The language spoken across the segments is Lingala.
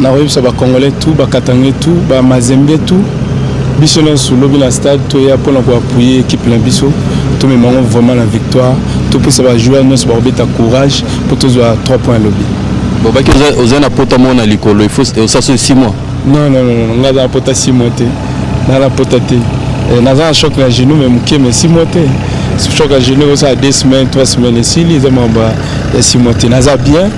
nakoyebisa ba congolais tout ba katangais tout ba mazembe tout biso nyonso lobi na stade toya mpona koapuye ekipe na biso tomema yango vraiment na victoire topesa bajoueur nyonso bakobeta courage mpo tozwa 3 point lobi bobaki oza na pota moko na likolo osaso 6 mois non non non ngai aza na pota 6 mois te ngai na pota te eh, naza na choc na genou me moke me 6 mois te choc ya genou ekosala 2 semaine 3 semaine esili eza makambo ya 6 mois te naza bien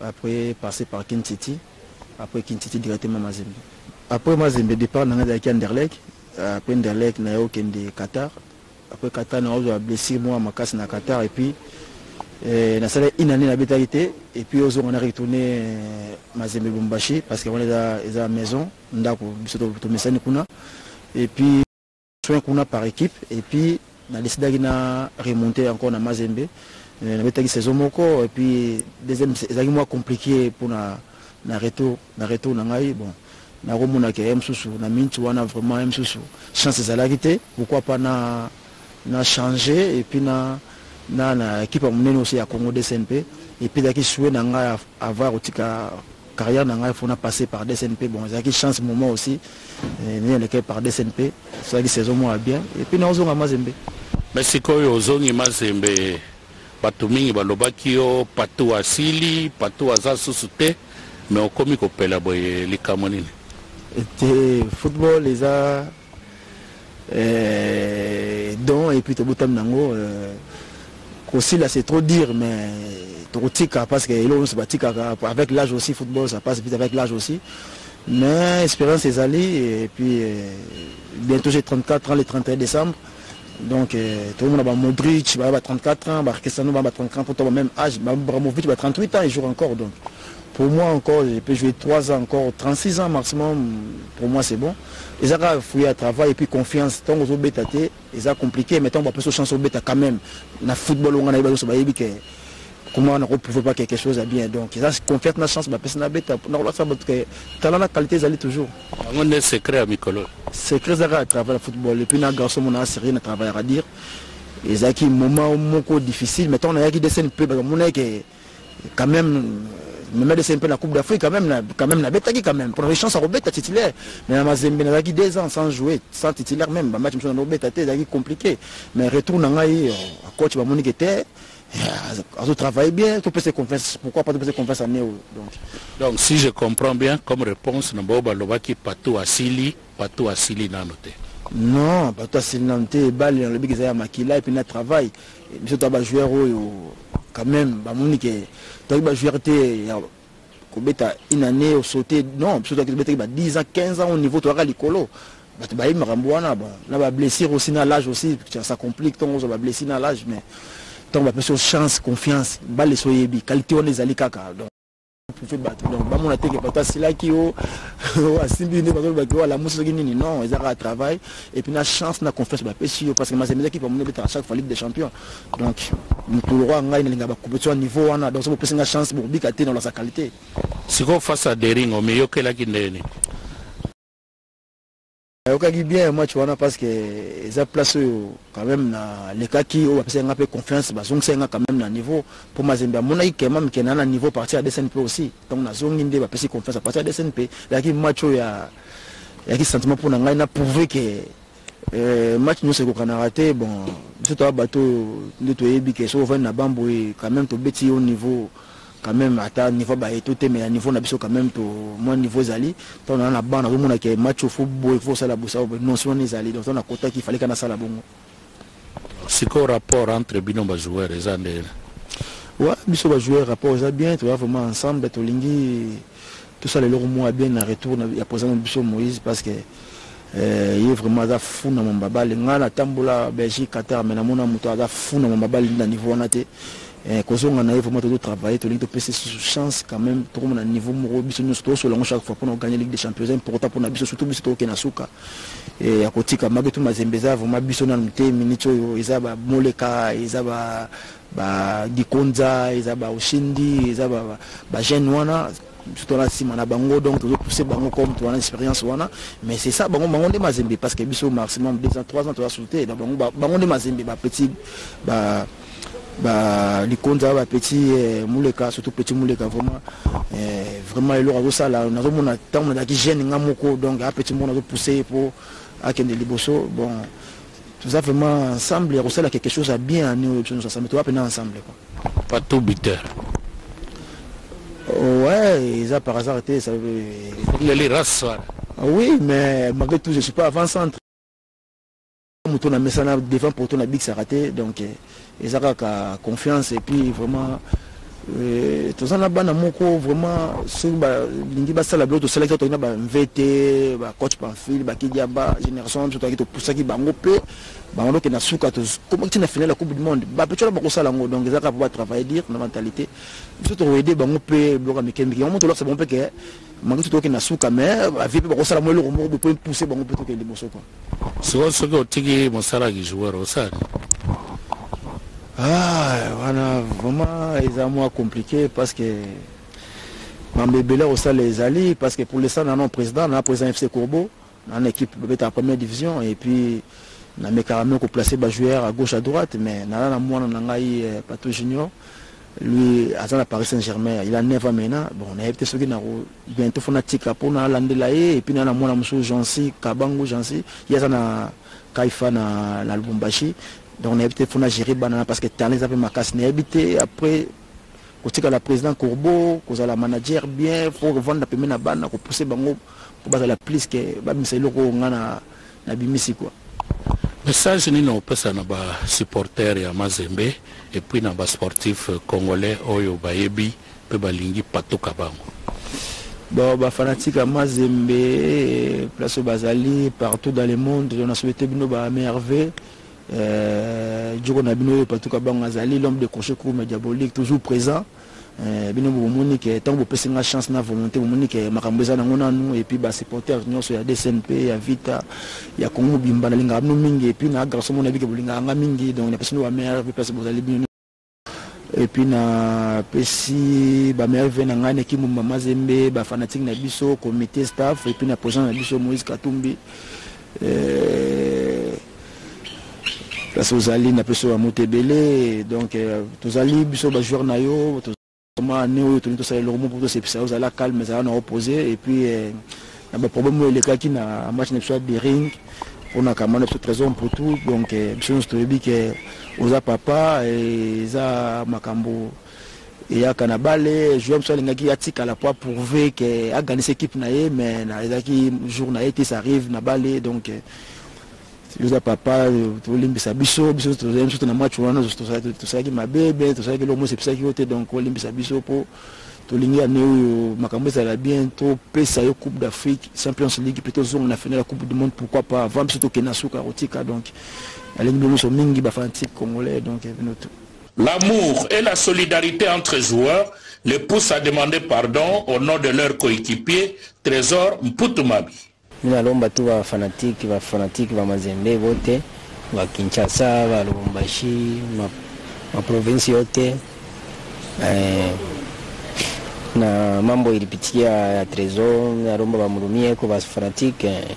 Après passer par kin city après kin city directement mazembe. Après mazembe depart na nga ezalaki anderlecht après anderlecht na yo kende Qatar après Qatar na ozwa blessure mwa makasi na Qatar et puis eh, na sala une année na betaki te et puis ozonga na retourner eh, mazembe Lubumbashi parce que wana eza eza maison ndako biso tomesani kuna et puis soins kuna par equipe et puis na decidaki na remonter encore na Mazembe euh, nabetaki saison moko et puis deuxième ezalaki mwa compliqué pour na na retour na retour na ngai bon nakomonaka ye mosusu na minute wana vraiment ye mosusu chance ezalaki te pourquoi pas na na changer et puis na na na ekipe ya monene osi ya congo dsnp epesaki sue na ngai avoir kotika carrière na ngai faut na passer par DSNP bon ezalaki chance moment aussi eh, nini elekaki par DSNP soki saison moko ya bien et puis naozonga Mazembe mais sikoyo ozongi Mazembe bato mingi balobaki yo patou asili patou aza susu te mais okomi kopela boye likambo nini te football eza euh, don et puis tobotami nango euh, kosila c'est trop dire mais tokotika parce que eloko nyonso batikaka avec l'âge aussi football ça passe vite avec l'âge aussi mais expérience ezali et puis euh, bientôt j'ai 34 ans le 31 décembre donc euh, tokomona ba modric baya ba 34 ans ba cristiano baya ba 34 ans pourtant ba même âge ba bramovic ba 38 ans ils jouent encore donc Pour moi encore je peux jouer 3 ans encore 36 ans maximum pour moi c'est bon eza kaka fruit ya travail et puis confiance ntango ozobeta te eza compliqué mais ntango bapesi chance obeta quand même na football onga nayebi nyonso bayebi ke comment nako prouve pas quelque chose ya bien donc eza confiance na chance bapesi nabeta nakolakisa bato ke tala na qualité ezali toujours yango nde secret ya mikolo secret eza kaka travail ya football et puis na garçon mona aserie na travail ya radire ezalaki moment moko difficile mais ntango nayaki desene mpe bakamonaki ke quand même Mohamed Hussein mpe na coupe d'afrique quand même quand même nabetaki quand même mpona chance ya kobeta titulaire mais na mazembe nazalaki deux ans sans jouer sans titulaire même bamatch mosusu nano obeta te ezalaki compliqué mais retour na ngai euh, coach bamoni ke te euh, azo travaille bien topesa confiance pourquoi pas topesa confiance année oyo donc donc si je comprends bien comme réponse na bao balobaki patou asili Bateau asili nanu te. Non bateau asili nanu te balle nalobi ke eza ya makila et puis na travail biso toza ba joueur oyo quand meme bamoni ke tozalaki ba joueur te ya kobeta une annee osote non biso tozalaki tobetaki ba 10 ans 15 ans au niveau toyaka likolo bato bayebi makambo wana bon na ba blessure aussi na l'âge aussi ça complique ntongo ozwa ba blessure na l'âge mais ntango bapesi yo chance confiance balle soyebi qualité wana ezali kaka donc prouve bato donc bamona te ke bato asilaki o asimbi nde bazoloba ke o alamusi soki nini non eza kaka travail et puis na chance na confiance bapesi yo parce que mazembe eza kipe amoni ebetaka chaque fois ligue des champions donc mokolo roi ngai nalinga bacompetition ya niveau wana donc so bopesi nga chance bokobika te na olasa qualité sikoyo face à deringo miyokelaki ndeni nayokaki bien match wana parce que eza place oyo quand même nalekaki oyo bapesaki nga mpe confiance bazongisaki nga quand même na niveau mpo mazembe amonaki kema mikena na niveau partir ya desn mpe aussi donc nazongi nde bapesi confiance apartir ya desn mpe ezalaki match oyo ya yaki sentiment mpo na ngai na prouve ke euh, match nyonso ekokanaka te bon biso toa bato oyo nde toyebi ke soki ovandi na bamboye quand même tobeti yo niveau quand meme ata niveau baye to temela niveau na biso quand meme to moi niveau ezali tant na na banc na mona ke match faut boy faut sala bosa au non si on ezali donc on a kota qu'il fallait kana sala bongo siko rapport entre bino ba joueurs eza nde wa biso ba joueurs rapport eza bien to vraiment ensemble to lingi Tosala eloko moko ya bien na retour na ya president na biso Moïse parce que eh, ye vraiment aza fou na mamba bale nga na tambola Belgique Qatar mais na mona moto aza fou na mamba bale na niveau wana te eh, kozonga na ye vraiment tozo travailler tolingi topesa susu chance quand même tokoma na niveau moko biso nyonso tosola yango chaque fois mpona kogagner ligue des champions eza important mpona biso surtout biso tokoke na suka eh, ya kotika maketu mazembe eza vraiment biso nanu te minute oyo eza bamoleka eza ba ba Gikonza eza ba Oshindi eza ba, ba, ba jeune wana surtout na sima na bango donc tozo pousser bango comme toana expérience wana mais c'est ça bango bango nde mazembe parce que biso maximum 2 ans 3 ans toza sauter na bango bango nde mazembe ba petit ba ba likonza ba petit eh, muleka surtout petit muleka vraiment eh, vraiment eloko azosala nazomona ntango nazalaki jeune nga moko donc a petit moko nazo pousser po akende liboso bon Toza vraiment ensemble ya kosala quelque chose ya bien année oyo biso nyonso ensemble toza mpena ensemble quoi. Patou buteur. Oh, ouais, eza par hasard te ça leli race wana. Ah oui, mais malgré tout je suis pas avant centre. Moto na mesana devant poto na big saraté donc. Eh, eza kaka confiance et puis vraiment euh, toza na bana moko vraiment soki balingi basala biloko tosalaki toki na bamvete bacoach pamphile bakidiaba génération biso toyaki topusaki bango mpe bango dokende na suka tokomaki na finale ya coupe du monde bapeco na bakosala yango donc eza kaka mpo batravaille dire na mentalité biso tokoede bango mpe biloko ya mike mike yango mo tolakisa bango mpe ke Manduki toke na suka mais ba vie pe bako sala mo eloko moko bo pe pousser bango pe toke liboso quoi. Siko soki otiki mosala ki joueur osala nini? Ah, wana vraiment eza mwa compliqué parce que mambo ebele ya kosala ezali parce que pour l'instant na non président na président FC Courbeau N'a na équipe bobetaka première division et puis na mekaka même ko placer ba joueurs à gauche à droite mais nala na mwana na ngai euh, Patou Junior lui aza na Paris Saint-Germain il a 9 ans maintenant bon na yebite soki na ko bientôt fona tika po na landela ye et puis na na mwana musu Jansi Kabangu Jansi ye aza na Kaifa na na Lubumbashi donc na yebite fona gérer bana parce que talent eza pe makasi na yebite après kotika la président Courbeau kozala manager bien faut revendre pembeni na bana ko pousser bango po bazala plus que babimisa eloko oyo nga na na bimisi quoi Message nini opesa na ba supporters ya Mazembe et puis na ba sportifs congolais oyo bayebi pe balingi patuka bango? Bon, ba fanatiques ya Mazembe place oyo bazali partout dans le monde na souhaite bino ba merveille euh, joko na bino oyo patuka bango azali l'homme de crochet kurume diabolique toujours présent Eh, bino bomoni ke ntango bopesi nga chance na volonté bomoni ke makambo eza nango nanu epuis basupporters nyonso ya dcmp ya vita ya kongo mobimba nalingaka bino mingi epuis na garso mona bike bolingaka nga mingi donc napesi bino bamere epuis place bozali bino epuis napesi bamere ve na ngai naki mumba mazembe bafanatike na biso comité staff epuis na president na biso moïse katumbi eh, place ozali na peso ya moto ebele donc euh, tozali biso ba joueur na yo ma ne oyo tolingi tosala eloko moko tosepisa yo ozala calme ezala na opose et puis euh, na baproblème oyo elekaki na match na biso ya bering mpona kama na biso trésor mputu donc euh, biso nyonso toyebi ke oza papa eza makambo eyaka na bale joueur mosusu alingaki atikala po aprouve ke aganisa ekipe na ye mais ezalaki jour na ye te ça arrive na bale donc yoza papa tolimbisa biso biso tozali biso na match wana tosalaki mabe be tosalaki eloko mosi episaki yo te donc olimbisa biso po tolingi ane oyo makambo ezala bien topesa yo coupe d'afrique champions league mpe tozonga na final ya coupe du monde pourquoi pas avant biso tokende na suka kotika donc alingi bino nyonso mingi bafanatique congolais donc bino tout L'amour et la solidarite entre joueurs les poussent à demander pardon au nom de leur coequipier Tresor Mputu Mabi. Ngai nalomba tout ba fanatique ba fanatique ba mazembe bote ba Kinshasa ba Lubumbashi ma, ma province yote eh, na mambo ilipitikia ya Tresor nalomba ba mulumie ko ba fanatique eh.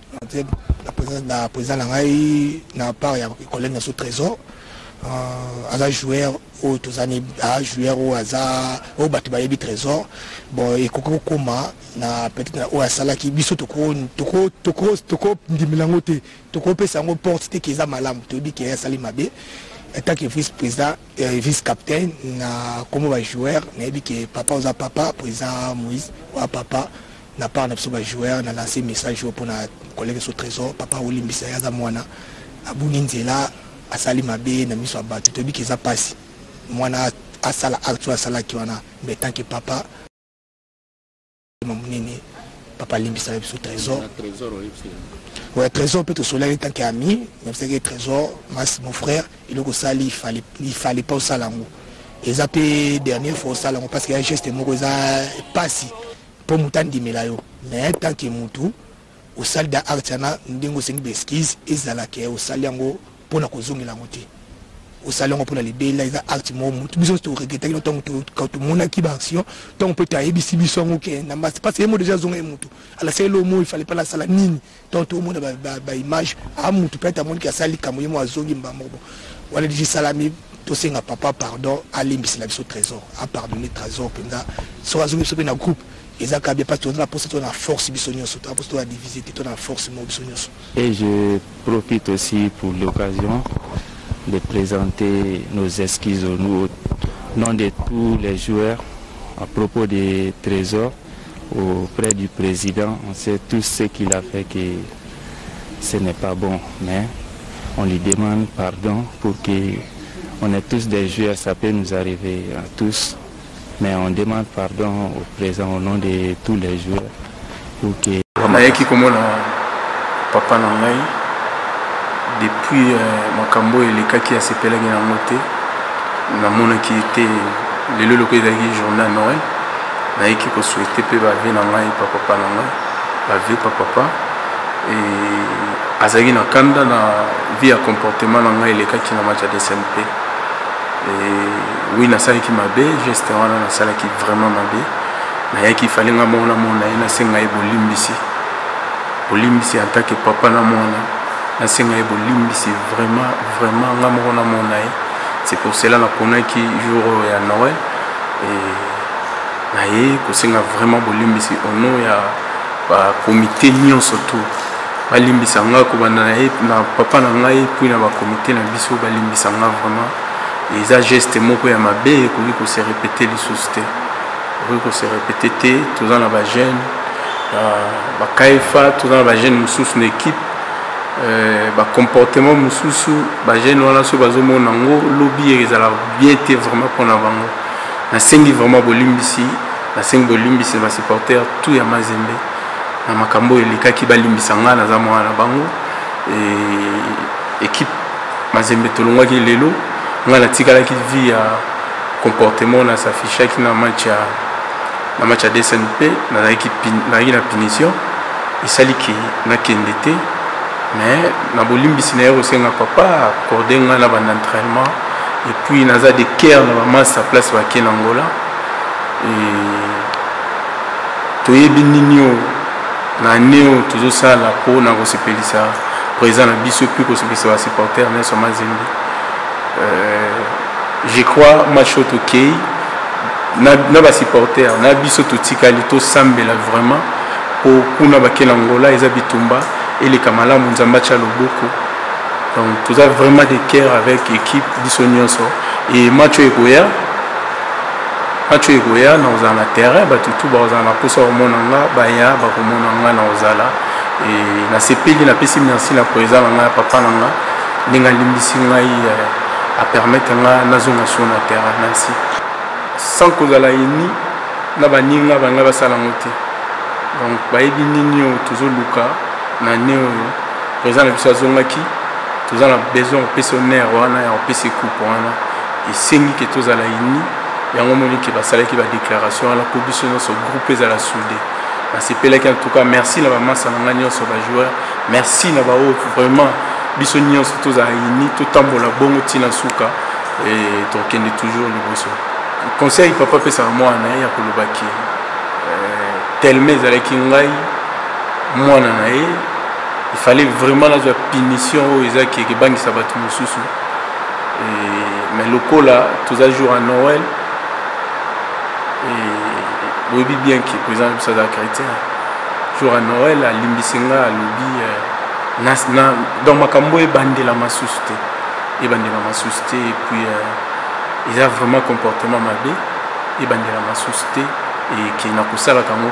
na président na ngai na part ya collègue na so trésor euh, aza joueur oyo tozani a joueur oyo aza oyo bato bayebi trésor bon ekoki kokoma na peut-être na oyo asalaki biso tokondimela yango te tokopesa yango porte te ke eza malamu toyebi ke asali mabe etant que vice président euh, vice captain na nkombo ba joueur nayebi ke papa oza papa président moïse oya papa na part na biso ba joueur na lancer message oyo mpona collègue so trésor papa olimbisa ye aza mwana abungi nzela asali mabe na miso ya bato toyebi ke eza mpasi mwana asala acte oyo asalaki wana mais tant que papa monene papa alimbisaka biso trésor ouais, trésor mpe tosolaki tant que ami nabisaki trésor mas mon frère eloko osali il fallait pas osala yango eza mpe dernière fois osala yango parce que ya geste moko eza mpasi po mutu andimela yo mais tant que mutu osali da arts wana ndenge osengi ba excuse ezala ke osali yango pona kozongela yango te osali yango pona libela eza arts mo mutu biso nyonso toregretaki no ntango tomonaki ba action ntango mpe toyebisi biso yango ke na mbasi parce ye mo deja azonga ye mutu alaseli omo ifale mpe alasala nini Tant tout monde ba image a mutu peut-être amoni ki asali likambo ye mo azongi mbamoko wana diji salami tosenga papa pardon alimbisela biso trésor apardonne trésor mpenza soki azongi biso mpe na groupe eza kaka bien parce toza na mposa tona force biso nyonso toza mposa tona divise te tona force moko biso nyonso et je profite aussi pour l'occasion de présenter nos excuses au nom de tous les joueurs à propos de trésor auprès du president on sait tout ce qu'il a fait que ce n'est pas bon mais on lui demande pardon pour que on est tous des joueurs ça peut nous arriver à tous mais on demande pardon au présent au nom de tous les joueurs pour que nayaki komona papa na ngai depuis euh, makambo oyo elekaki asepelaki na yango te namonaki te lelo eloko ezalaki journée ya noël Nayaki ko souhaiter pe ba vie na ngai pa papa na ngai, ba vie pa papa et azalaki na kanda na vie ya comportement na ngai elekaki na match ya DSMP. Et oui nasalaki mabe, geste wana nasalaki vraiment mabe. Nayaki fallait nga moko namona ye nasenga ye bolimbisi. Bolimbisi en tant que papa na mwana. Nasenga ye bolimbisi vraiment vraiment nga moko namona ye. C'est pour cela naponaki jour oyo ya Noël et naye kosenga vraiment bolimbisi au nom ya ba comité nyonso tout balimbisa nga kobanda na ye na papa na ngai puis na ba comité na biso balimbisa nga vraiment eza geste moko ya mabe ekoki kose répéter lisusu te ekoki kose répéter te toza na ba jeune bakaifa toza na ba jeune mosusu na équipe Euh, bacomportement mosusu bagene wana soki bazomona yango lobi ezala bien te vraiment mpona bango Nasengi vraiment bolimbisi, nasengi bolimbisi ba supporters tout ya Mazembe na makambo oyo elekaki, balimbisa ngai naza mwana na bango. Equipe Mazembe tolongwaki lelo, ngai natikalaki vie ya comportement na s'affichaki na match ya na match ya DSMP, nazalaki na punition esali ke nakende te mais na bolimbisi naye kosenga papa accorde ngai na banda entraînement et puis naza de cœur na ba masta place bake na Angola toyebi nini oyo na ane oyo tozosala mpo na kosepelisa président na biso mpe kosepelisa basupporter na yso mazembe euh, je crois match oyo tokei na basupporter na biso totikali tosambela vraiment mpo kuna bakela ngola eza bitumba eleka malamu nzambe atya loboko donc toza vraiment de cœur avec équipe biso nyonso e match oyo ekoya match oyo ekoya na kozala na terrain bato tu bakozala na mposa komona nga baya bakomona nga na kozala e nasepeli napesi merci na koeza na ngai ya papa na nga ndenge alimbisi ngai eh, apermettre nga nazonga sur na terrain merci sans kozala eni na baninga bangai basala yango te donc bayebi nini oyo tozoluka na ne oyo Président na biso azongaki toza na besoin ya kopesa honneur wana ya kopesa ekupe wana esengi ke tozala ini yango omoni ke basalaki badéclaration wana mpo biso nyonso groupe ezala soude nasepelaki en tout cas merci na bamasa na ngai nyonso bajoueur merci na baoyo vraiment biso nyonso tozala ini totambola bongo ntina nsuka tokende toujours liboso conseil papa apesaka mwana ya kolobaki euh, telema ezalaki ngai mwana na ye il fallait vraiment nazwa punition oyo eza kebangisa bato mosusu mais lokola toza jour ya noël boyebi bien ke président na biso aza chrétien jour ya noël alimbisi nga alobi euh, donc makambo ebandela masusu te ebandela masusu te epuis euh, eza vraiment comportement mabe ebandela masusu te eke nakosalaka yango